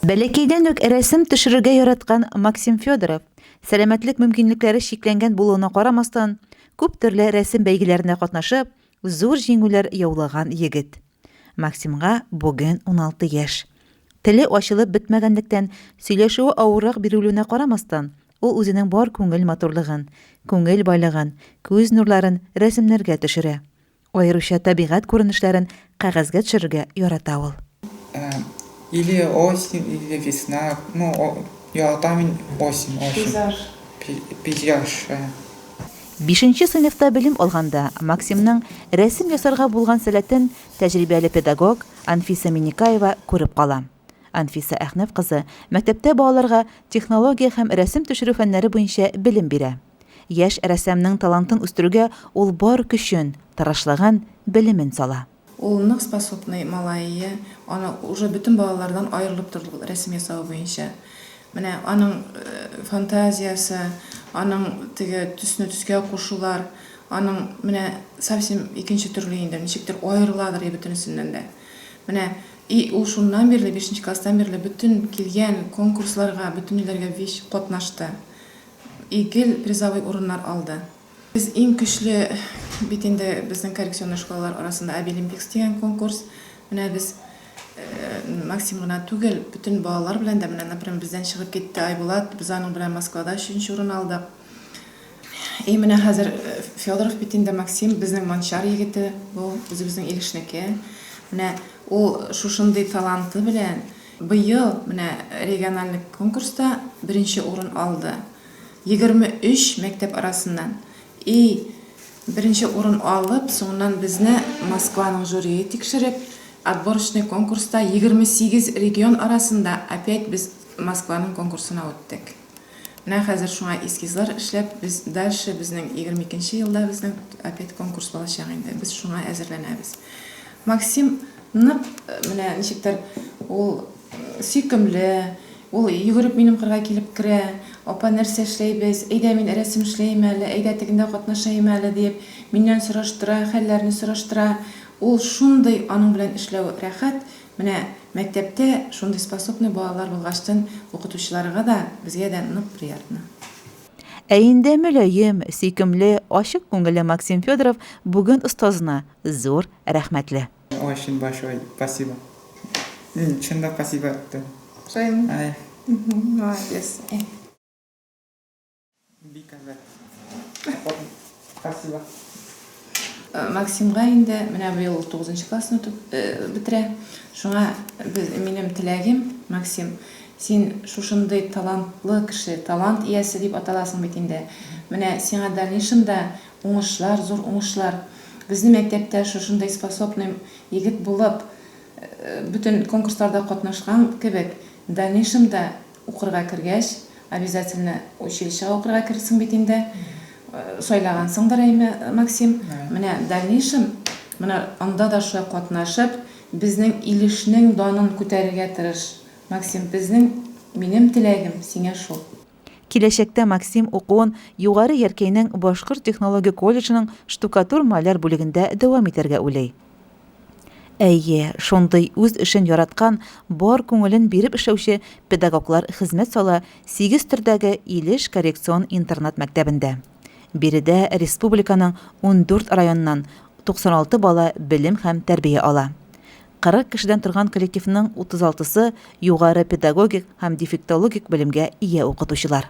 Бәләкәйдән үк рәсем төшерергә яраткан Максим Федоров, сәламәтлек мөмкинлекләре чикләнгән булуына карамастан, күп төрле рәсем бәйгеләренә катнашып, зур җиңүләр яулаган егет. Максимга бүген 16 яшь. Теле ачылып бетмәгәнлектән, сөйләшүе авыррак бирелүенә карамастан, ул үзенең бар күңел матурлыгын, күңел байлыгын, күз нурларын рәсемнәргә төшерә. Аеруча табигать күренешләрен кәгазьгә төшерергә ярата ул. Э, или осень, или весна. Ну, ярата мин осень, осень. Пейзаж. Пейзаж. Э. Бишенче сыйныфта белем алганда Максимның рәсем ясарга булган сәләтен тәҗрибәле педагог Анфиса Минекаева күреп кала. Анфиса Әхнәф кызы мәктәптә балаларга технология һәм рәсем төшерү фәннәре буенча белем бирә. Яшь рәссамның талантын үстерүгә ул бар көчен, тырышлагын, белемен сала. Ул нык способный малай ие, аны уже бөтен балалардан аерылып тордык рәсем ясавы буенча. Менә аның фантазиясе, аның теге төсне төскә кушулар, аның менә совсем икенче төрле инде, ничектер аерыладыр ие бөтенесеннән дә. Менә И ул шуннан бирле, бишенче класстан бирле бөтен килгән конкурсларга, бөтен илләргә вич катнашты. И гел призовой урыннар алды. Без иң көчле бит инде безнең коррекционный школалар арасында Абилимпикс дигән конкурс. Менә без Максим гына түгел, бөтен балалар белән дә, менә, например, бездән чыгып китте Айбулат, без аның белән Москвада өченче урын алдык. И менә хәзер э, Федоров бит инде Максим, безнең Манчар егете, ул үзебезнең Илешнеке. Менә ул шушындый таланты белән быел менә региональный конкурста беренче урын алды. 23 мәктәп арасыннан. И беренче урын алып, соңыннан безне Москваның жюрие тикшереп, отборочный конкурста 28 регион арасында опять без Москваның конкурсына үттек. Менә хәзер шуңа эскизлар эшләп, без дальше безнең егерме икенче елда безнең опять конкурс булачак инде, без шуңа әзерләнәбез. Максим нык менә ничектер ул сөйкемле, ул йөгереп минем кырга килеп керә, апа нәрсә эшләйбез, әйдә мин рәсем эшләем әле, әйдә тегендә катнашаем әле диеп, миннән сораштыра, хәлләрне сораштыра. Ул шундый аның белән эшләү рәхәт, Менә мәктәптә шундый способный балалар булгачтын укытучыларыга да, безгә дә нык приятно. Ә инде мөлаем, сөйкемле, ачык күңелле Максим Федоров бүген остазына зур рәхмәтле. Ой өчен большой спасибо. Мин чын да спасибо әйттем. Шулаймы? Ай. Молодец. Спасибо. Э, Максимга инде менә быел ул 9 классны э, бетерә. Шуңа без минем теләгем, Максим, син шушындый талантлы кеше, талант иясе дип аталасың бит инде. Менә сиңа дальнейшемда уңышлар, зур уңышлар. Безнең мәктәптә шушындый способный егет булып, э, бөтен конкурсларда катнашкан кебек, дальнейшемда Укырга кергәч, обязательно училищега укырга керерсең бит инде. Сайлагансыңдыр, әйме, Максим? Менә дальнейшем, менә анда да шулай катнашып, безнең Илешнең данын күтәрергә тырыш, Максим, безнең, минем теләгем сиңа шул. Киләчәктә Максим укуын Югары Яркәйнең Башкорт технология колледжының штукатур-маляр бүлегендә дәвам итәргә уйлый. Әйе, шундый үз эшен яраткан, бар күңелен биреп эшләүче педагоглар хезмәт сала сигез төрдәге Илеш коррекцион интернат мәктәбендә. Биредә республиканың ундүрт районыннан 96 бала белем һәм тәрбия ала. 40 кешедән торган коллективның 36-сы, югары педагогик һәм дефектологик белемгә ия укытучылар.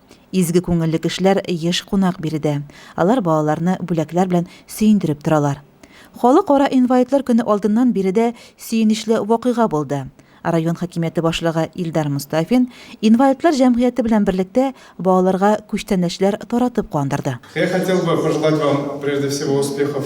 Изге күңелле кешеләр еш кунак биредә. Алар балаларны бүләкләр белән сөендереп торалар. Халыкара инвалидлар көне алдыннан биредә сөенечле вакыйга булды. Район хакимияте башлыгы Илдар Мостафин инвалидлар җәмгыяте белән берлектә балаларга күчтәнәчләр таратып куандырды. Я хотел бы пожелать вам прежде всего успехов